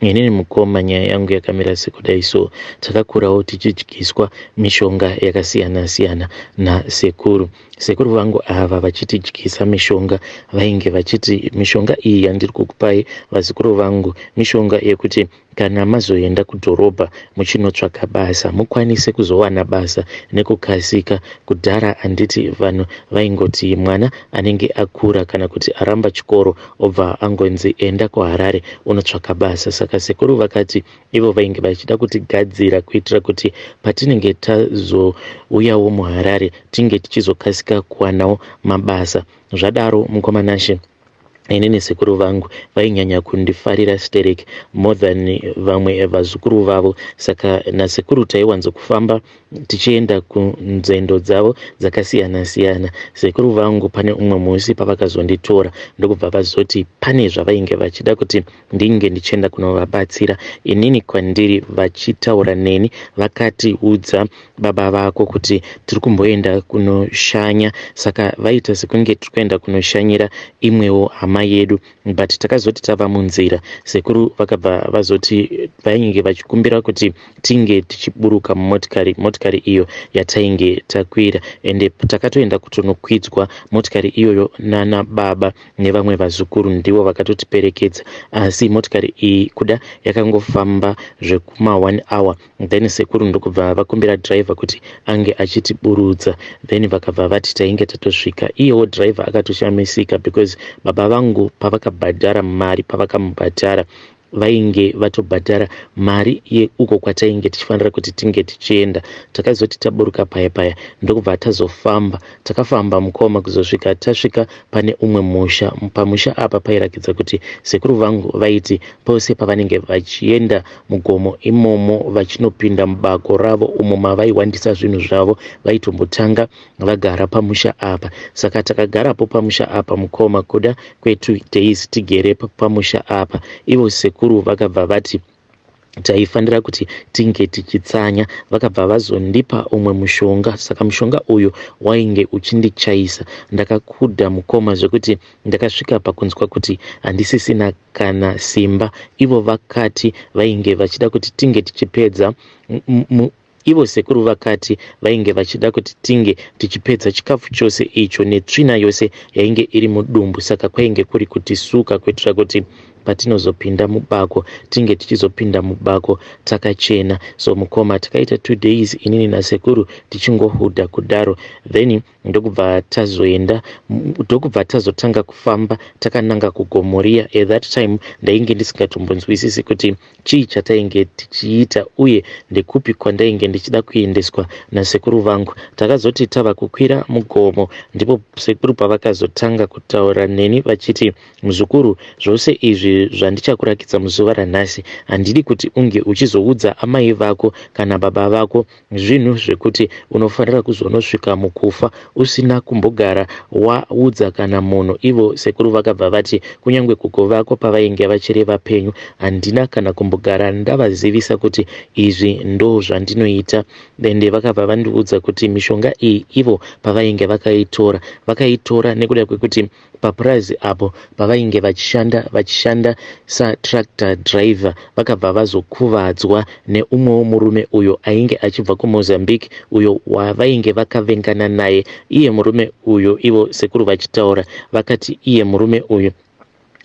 Inini mukoma nyaya yangu yakamira sekudai so takakurawo tichidyiswa mishonga yakasiyana siyana nasekuru. Sekuru vangu ava vachitidyisa mishonga vainge vachiti mishonga iyi yandiri kukupai vazukuru vangu mishonga yekuti kana mazoenda kudhorobha muchinotsvaka basa mukwanise kuzowana basa nekukasika. Kudhara handiti vanhu vaingoti mwana anenge akura kana kuti aramba chikoro obva angonzi enda kuharare unotsvaka basa saka sekuru vakati ivo vainge vachida kutigadzira kuitira kuti patinenge tazouyawo muharare tinge tichizokasika kuwanawo mabasa zvadaro mukoma nashe ini nesekuru vangu vainyanya kundifarira sterek more than vamwe vazukuru vavo saka nasekuru taiwanzokufamba tichienda kunzendo dzavo dzakasiyana siyana sekuru vangu pane umwe musi pavakazonditora ndokubva vazoti pane zvavainge vachida kuti ndinge ndichienda kunovabatsira inini kwandiri vachitaura neni vakati udza baba vako kuti tiri kumboenda kunoshanya saka vaita sekunge tiri kuenda kunoshanyira imwewo hama yedu but takazoti tava munzira sekuru vakabva vazoti vainge vachikumbira kuti tinge tichiburuka mumotikari motikari iyo yatainge takwira ende takatoenda kutonokwidzwa motikari iyoyo nana baba nevamwe vazukuru ndivo vakatotiperekedza asi motikari iyi kuda yakangofamba zvekuma one hour Then sekuru ndokubva vakumbira driver kuti ange achiti burutsa then vakabva vati tainge tatosvika iyewo driver akatoshamisika because baba vangu pavakabhadhara mari pavakamubhadhara vainge vatobhadhara mari yeuko kwatainge tichifanira kuti tinge tichienda takazoti taburuka paya paya ndokubva tazofamba takafamba mukoma kuzosvika tasvika pane umwe musha pamusha apa pairakidza kuti sekuru vangu vaiti pose pavanenge vachienda mugomo imomo vachinopinda mubako ravo umo mavaihwandisa zvinhu zvavo vaitombotanga vagara pamusha apa saka takagarapo pamusha apa mukoma kuda kwetu days tigere pamusha apa ivo sekuru vakabva vati taifanira kuti tinge tichitsanya vakabva vazondipa umwe mushonga saka mushonga uyu wainge uchindichaisa ndakakuda mukoma zvekuti ndakasvika pakunzwa kuti handisisina kana simba ivo vakati vainge vachida kuti tinge tichipedza ivo sekuru vakati vainge vachida kuti tinge tichipedza chikafu chose icho netsvina yose yainge iri mudumbu saka kwainge kuri kutisuka kuitira kuti patinozopinda mubako tinge tichizopinda mubako takachena so mukoma takaita two days inini nasekuru tichingohudha kudaro then ndokubva tazoenda ndokubva tazotanga kufamba takananga kugomoria at that time ndainge ndisingatombonzwisisi kuti chii chatainge tichiita uye ndekupi kwandainge ndichida kuendeswa nasekuru vangu takazoti tava kukwira mugomo ndipo sekuru pavakazotanga kutaura neni vachiti muzukuru zvose izvi zvandichakurakidza muzuva ranhasi handidi kuti unge uchizoudza amai vako kana baba vako Zvinhu zvekuti unofanira kuzonosvika mukufa usina kumbogara waudza kana munhu. Ivo sekuru vakabva vati, Kunyangwe gogo vako pavainge vachiri vapenyu handina kana kumbogara ndavazivisa kuti izvi ndozvandinoita. Ende vakabva vandiudza kuti mishonga iyi ivo pavainge vakaitora, vakaitora nekuda kwekuti Papurazi apo pavainge vachishanda vachishanda satractor driver vakabva vazokuvadzwa neumwewo murume uyo ainge achibva kuMozambique uyo wavainge vakavengana naye iye murume uyo ivo sekuru vachitaura vakati iye murume uyo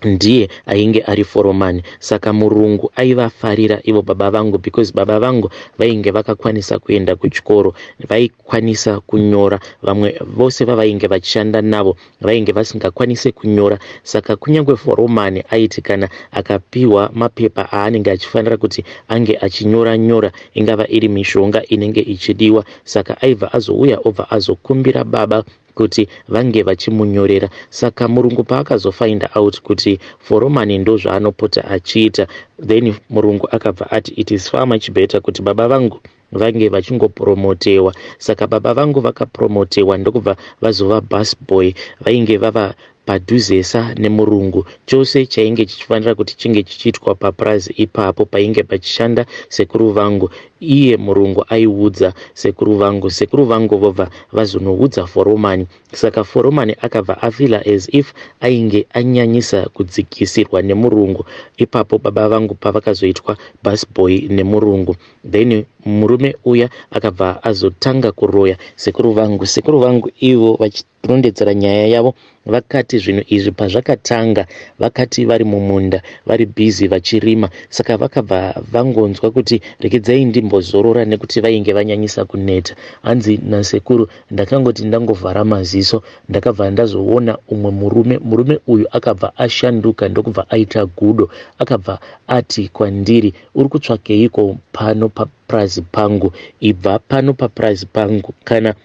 ndiye ainge ari foromani saka murungu aivafarira ivo baba vangu because baba vangu vainge vakakwanisa kuenda kuchikoro vaikwanisa kunyora vamwe vose vavainge vachishanda navo vainge vasingakwanise kunyora saka kunyange foromani aiti kana akapiwa mapepa aanenge achifanira kuti ange achinyora nyora ingava iri mishonga inenge ichidiwa saka aibva azouya obva azokumbira baba kuti vange vachimunyorera saka murungu paakazofinda out kuti foromani ndozvaanopota achiita then murungu akabva ati it is far much better kuti baba vangu vange vachingopromotewa saka baba vangu vakapromotewa ndokubva vazova bus boy vainge vava padhuzesa nemurungu chose chainge chichifanira kuti chinge chichiitwa papurazi ipapo painge pachishanda sekuru vangu iye murungu aiudza sekuru vangu sekuru vangu vobva vazonoudza foromani saka foromani akabva afila as if ainge anyanyisa kudzikisirwa nemurungu ipapo baba vangu pavakazoitwa busboy nemurungu then murume uya akabva azotanga kuroya sekuru vangu sekuru vangu ivo vachirondedzera nyaya yavo vakati zvinhu izvi pazvakatanga vakati vari mumunda vari bhizi vachirima saka vakabva vangonzwa kuti rekedzayi ndimbozorora nekuti vainge vanyanyisa kuneta hanzi nasekuru ndakangoti ndangovhara maziso ndakabva ndazoona umwe murume murume uyu akabva ashanduka ndokubva aita gudo akabva ati kwandiri uri kutsvakeiko pano papurazi pangu ibva pano papurazi pangu kana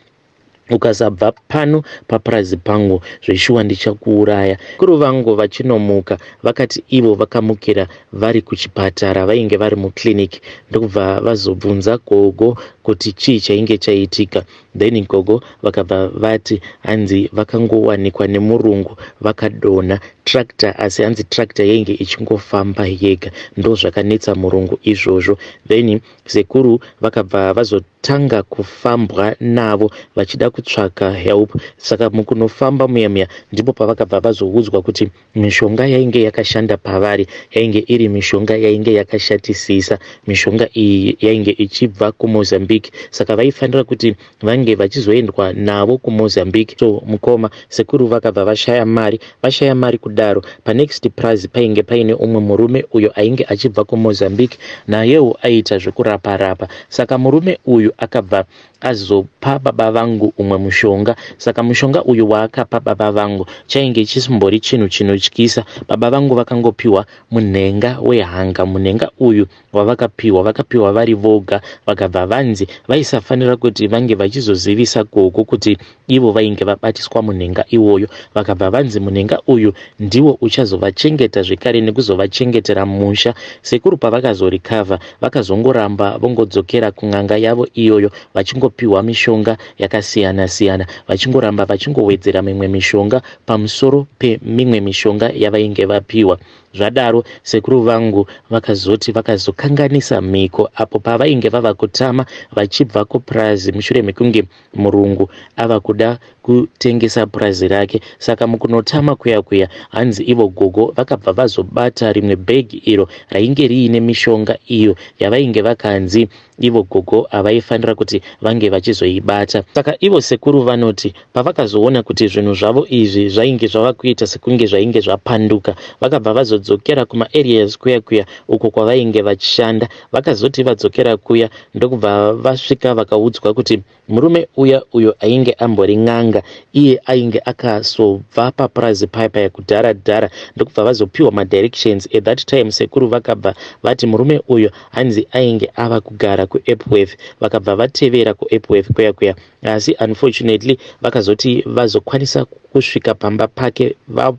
ukasabva pano papurazi pangu zveshuwa ndichakuuraya kuru vangu vachinomuka vakati ivo vakamukira vari kuchipatara vainge vari muclinic ndokubva vazobvunza gogo kuti chii chainge chaitika Then gogo vakabva vati hanzi vakangowanikwa nemurungu vakadonha tractor asi hanzi tractor yainge ichingofamba yega ndozvakanetsa murungu izvozvo then sekuru vakabva vazotanga kufambwa navo vachida kutsvaka help saka mukunofamba muya muya ndipo pavakabva vazoudzwa kuti Mishonga yainge yakashanda pavari yainge iri mishonga yainge yakashatisisa. Mishonga iyi yainge ichibva kuMozambique, saka vaifanira kuti vange vachizoendwa navo kuMozambique. So mukoma sekuru vakabva vashaya mari, vashaya mari kudaro. Panext prazi painge paine umwe murume uyo ainge achibva kuMozambique, nayewo aiita zvekurapa rapa. Saka murume uyu akabva Akazopa baba vangu umwe mushonga saka mushonga uyu waakapa baba vangu chainge chisimbori chinhu chinotyisa. Baba vangu vakangopiwa munhenga wehanga. Munhenga uyu wavakapiwa vakapiwa vari voga vakabva vanzi vaisafanira kuti vange vachizozivisa Gogo kuti Ivo vainge vabatiswa munhenga iwoyo vakabva vanzi munhenga uyu ndiwo uchazovachengeta zvekare nekuzovachengetera musha. Sekuru pavakazorikavha vakazongoramba vongodzokera kun'anga yavo iyoyo vachingopihwa mishonga yakasiyana siyana vachingoramba vachingowedzera mimwe mishonga pamusoro pemimwe mishonga yavainge vapihwa. Zvadaro sekuru vangu vakazoti vakazokanganisa mhiko apo pavainge vava kutama vachibva kupurazi mushure mekunge Murungu ava kuda kutengesa purazi rake saka mukunotama kuya kuya hanzi ivo gogo vakabva vazobata rimwe bhegi iro rainge riine mishonga iyo yavainge vakanzi ivo gogo havaifanira kuti vange vachizoibata saka ivo sekuru vanoti pavakazoona kuti zvinhu zvavo izvi zvainge zvava kuita sekunge zvainge zvapanduka vakabva vazodzokera kumaareas kuya kuya uko kwavainge vachishanda Vakazoti vadzokera kuya ndokubva vasvika vakaudzwa kuti murume uya uyo ainge ambori n'anga iye ainge akazobva papurazi paya paya kudhara dhara ndokubva vazopiwa madirections at that time sekuru vakabva vati murume uyo hanzi ainge ava kugara kuepworth vakabva vatevera kuepworth kuya kuya asi unfortunately vakazoti vazokwanisa kusvika pamba pake va,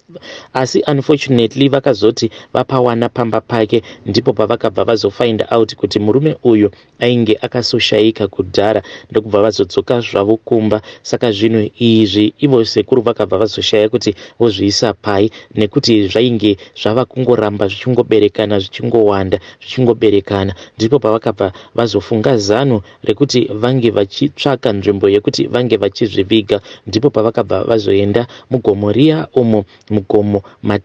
asi unfortunately vakazoti vapawana pamba pake ndipo pavakabva vazofind out kuti murume uyu ainge akasoshaika kudhara ndokubva vazodzoka zvavo kumba saka zvinhu izvi ivo sekuru vakabva vazoshaya kuti vozviisa pai nekuti zvainge zvava kungoramba zvichingoberekana zvichingowanda zvichingoberekana ndipo pavakabva vazofunga zano rekuti vange vachitsvaka nzvimbo yekuti vange vachizviviga ndipo pavakabva vazoenda mugomo riya umo mugomo mat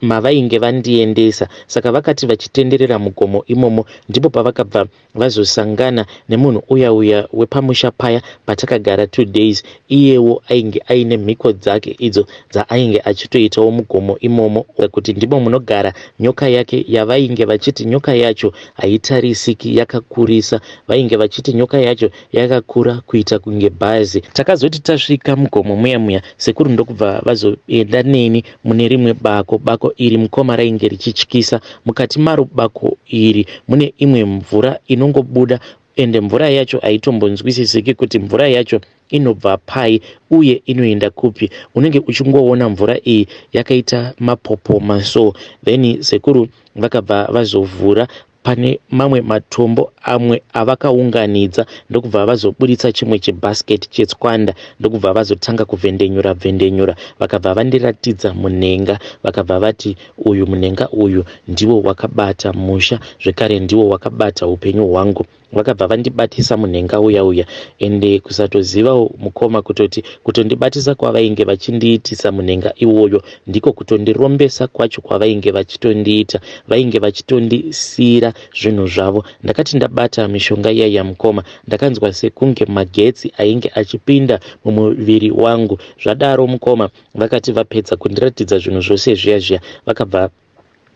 mavainge ma vandiendesa saka vakati vachitenderera mugomo imomo ndipo pavakabva vazosangana nemunhu uya uya wepamusha paya patakagara two days Iyewo ainge aine mhiko dzake idzo dzaainge achitoitawo mugomo imomo kuti ndimo munogara nyoka yake yavainge vachiti nyoka yacho haitarisiki yakakurisa. Vainge vachiti nyoka yacho yakakura kuita kunge bhazi. Takazoti tasvika mugomo muya muya sekuru ndokubva vazoenda neni mune rimwe bako. Bako iri mukoma rainge richityisa. Mukati maro bako iri mune imwe mvura inongobuda Ende mvura yacho haitombonzwisisiki kuti mvura yacho inobva pai uye inoenda kupi. Unenge uchingoona mvura iyi yakaita mapopoma so. Then sekuru vakabva vazovhura pane mamwe matombo amwe avakaunganidza ndokubva vazoburitsa chimwe chibasket chetswanda ndokubva vazotanga kuvhendenyura vhendenyura vakabva vandiratidza munhenga vakabva vati Uyu munhenga uyu ndiwo wakabata musha zvekare ndiwo wakabata upenyu hwangu vakabva vandibatisa munhenga uya uya ende kusatozivawo mukoma kutoti kutondibatisa kwavainge vachindiitisa munhenga iwoyo ndiko kutondirombesa kwacho kwavainge vachitondiita vainge vachitondisiira zvinhu zvavo ndakati ndabata mishonga iya yamukoma ndakanzwa sekunge magetsi ainge achipinda mumuviri wangu zvadaro mukoma Vakati vapedza kundiratidza zvinhu zvose zviya zviya vakabva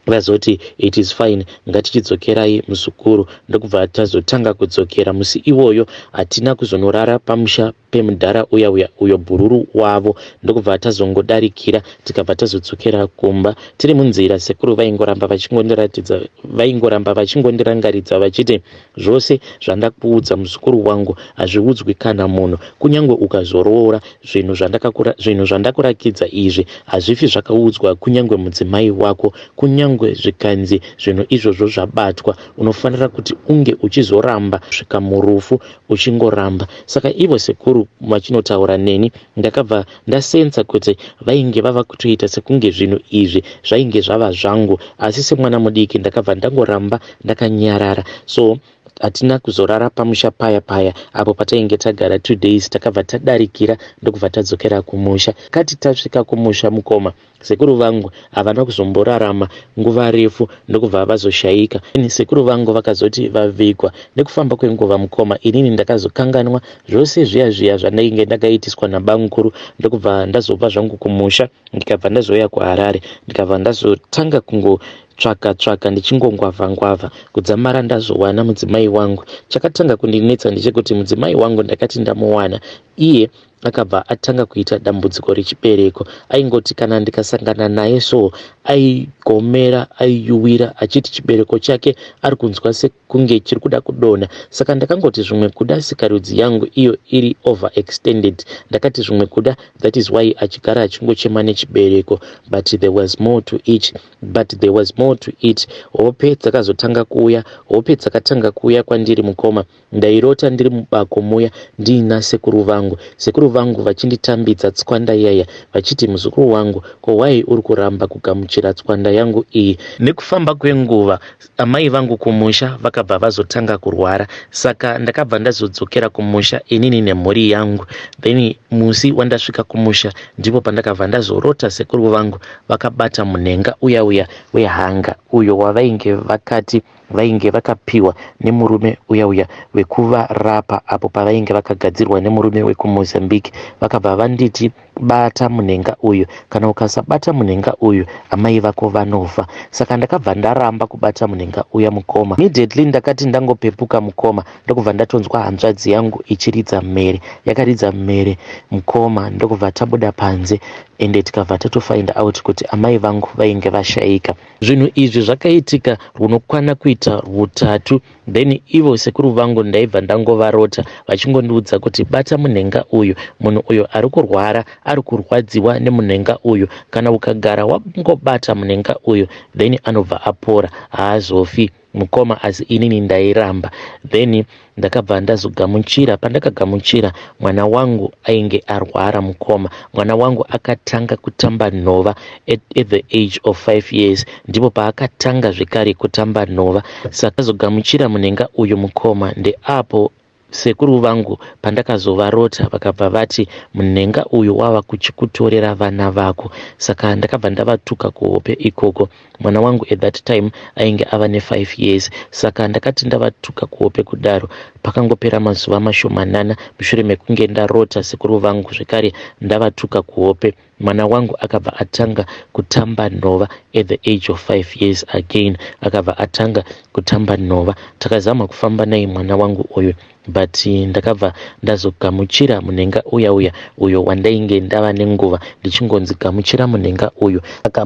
vazoti it is fine ngatichidzokerai muzukuru ndokubva tazotanga kudzokera musi iwoyo hatina kuzonorara pamusha pemudhara uya uya uyo bhururu wavo ndokubva tazongodarikira tikabva tazodzokera kumba tiri munzira sekuru vaingoramba vachingondiratidza vaingoramba vachingondirangaridza vachiti Zvose zvandakuudza muzukuru wangu hazviudzwi kana munhu kunyangwe ukazoroora zvinhu zvandakakura zvinhu zvandakurakidza izvi hazvifi zvakaudzwa kunyangwe mudzimai wako kunyangwe zvikanzi zvinhu izvozvo zvabatwa unofanira kuti unge uchizoramba svika murufu uchingoramba saka ivo sekuru vachinotaura neni ndakabva Ndasensa kuti vainge vava kutoita sekunge zvinhu izvi zvainge zvava zvangu asi semwana mudiki ndakabva ndangoramba ndakanyarara so hatina kuzorara pamusha paya paya apo patainge tagara two days takabva tadarikira ndokubva tadzokera kumusha kati tasvika kumusha mukoma Sekuru vangu havana kuzomborarama nguva refu ndokubva vazoshaika. Ini sekuru vangu vakazoti vavigwa. Nekufamba kwenguva mukoma inini ndakazokanganwa zvose zviya zviya zvandainge ndakaitiswa nabamukuru ndokubva ndazobva zvangu kumusha ndikabva ndazouya kuHarare ndikabva ndazotanga kungo tsvaka tsvaka ndichingongwavha ngwavha kudzamara ndazowana mudzimai wangu. Chakatanga kundinetsa ndechekuti mudzimai wangu ndakati ndamuwana iye akabva atanga kuita dambudziko rechibereko aingoti kana ndikasangana naye so aigomera aiyuwira achiti chibereko chake ari kunzwa sekunge chiri kuda kudonha saka ndakangoti zvimwe kuda sikarudzi yangu iyo iri over extended ndakati zvimwe kuda that is why achigara achingochema nechibereko but there was more to it but there was more to it hope dzakazotanga kuuya hope dzakatanga kuuya kwandiri mukoma Ndairota ndiri mubako muya ndiina sekuru vangu, sekuru vangu vachinditambidza tswanda yaya vachiti muzukuru wangu ko why uri kuramba kugamuchira tswanda yangu iyi. Nekufamba kwenguva amai vangu kumusha vakabva vazotanga kurwara saka ndakabva ndazodzokera kumusha inini nemhuri yangu then musi wandasvika kumusha ndipo pandakabva ndazorota sekuru vangu vakabata munhenga uya uya wehanga uyo wavainge vakati vainge vakapiwa nemurume uya uya wekuvarapa apo pavainge vakagadzirwa nemurume wekumozambique vakabva vanditi bata munhenga uyu kana ukasabata munhenga uyu amai vako vanofa saka ndakabva ndaramba kubata munhenga uya mukoma immediately ndakati ndangopepuka mukoma ndokubva ndatonzwa hanzvadzi yangu ichiridza mhere yakaridza mhere mukoma ndokubva tabuda panze ende tikabva tatofind out kuti amai vangu vainge vashaika Zvinhu izvi zvakaitika rwunokwana kuita rwutatu then ivo sekuru vangu ndaibva ndangovarota vachingondiudza kuti bata munhenga uyu, munhu uyo ari kurwara ari kurwadziwa nemunhenga uyu, kana ukagara wangobata munhenga uyu then anobva apora, haazofi. mukoma as inini ndairamba then ndakabva ndazogamuchira pandakagamuchira mwana wangu ainge arwara mukoma mwana wangu akatanga kutamba nhova at, at the age of five years ndipo paakatanga zvekare kutamba nhova saka zogamuchira munhenga uyu mukoma ndeapo Sekuru vangu pandakazovarota vakabva vati munhenga uyu wava kuchikutorera vana vako saka ndakabva ndavatuka kuhope ikoko. Mwana wangu at that time ainge ava nefive years saka ndakati ndavatuka kuhope kudaro. Pakangopera mazuva mashomanana mushure mekunge ndarota sekuru vangu zvekare ndavatuka kuhope. Mwana wangu akabva atanga kutamba nhova at the age of 5 years again akabva atanga kutamba nhova takazama kufamba naye mwana wangu uyu but ndakabva ndazogamuchira munhenga uya uya uyo wandainge ndava nenguva ndichingonzi gamuchira munhenga uyu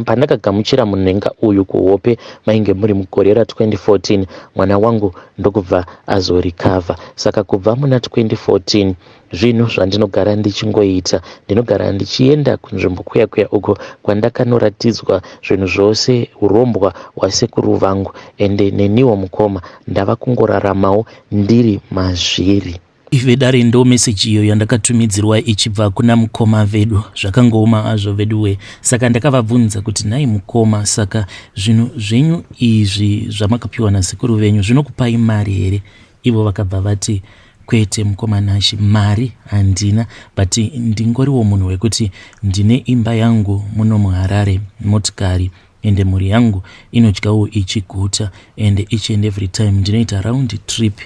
pandakagamuchira munhenga uyu kuhope mainge muri mugore ra 2014 mwana wangu ndokubva azorecover saka kubva muna 2014 Zvinhu zvandinogara ndichingoita, ndinogara ndichienda kunzvimbo kuya kuya uko kwandakanoratidzwa zvinhu zvose urombwa hwasekuru vangu ende neniwo mukoma ndava kungoraramawo ndiri mazviri. Ive dare ndo message iyo yandakatumidzirwa ichibva kuna mukoma vedu zvakangooma azvo veduwe saka ndakavabvunza kuti nhai mukoma saka zvinhu zvenyu izvi zvamakapiwa nasekuru venyu zvinokupai mari here ivo vakabva vati Kwete mukoma Nashy, mari handina but ndingoriwo munhu wekuti ndine imba yangu muno muHarare, motikari ende mhuri yangu inodyawo ichiguta ende each and every time ndinoita round trip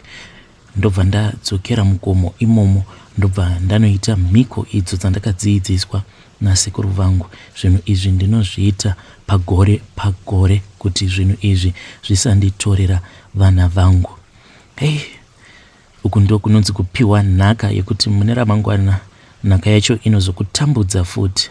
ndobva ndadzokera mugomo imomo ndobva ndanoita mhiko idzo dzandakadziidziswa nasekuru vangu. Zvinhu izvi ndinozviita pagore pagore kuti zvinhu izvi zvisanditorera vana vangu. Hey, Uku ndiko kunonzi kupiwa nhaka yekuti mune ramangwana nhaka yacho inozokutambudza futi.